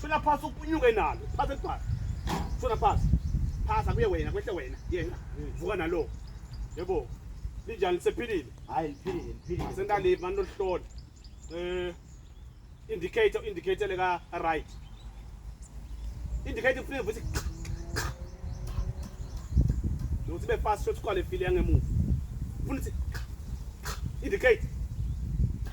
Shona phasi ukunyuke nalo. Phasi phasi. Shona phasi. Phasa kuye wena kwehle wena. Yena. Vuka nalo. Yebo. Linjani lisephilile? Hayi liphilile liphilile. Sendali mani lohlolo. Eh indicator indicator leka right. Indicator kufuneka ukuthi Nokuthi be fast shot kwale file yangemuva. Ufuna ukuthi indicate.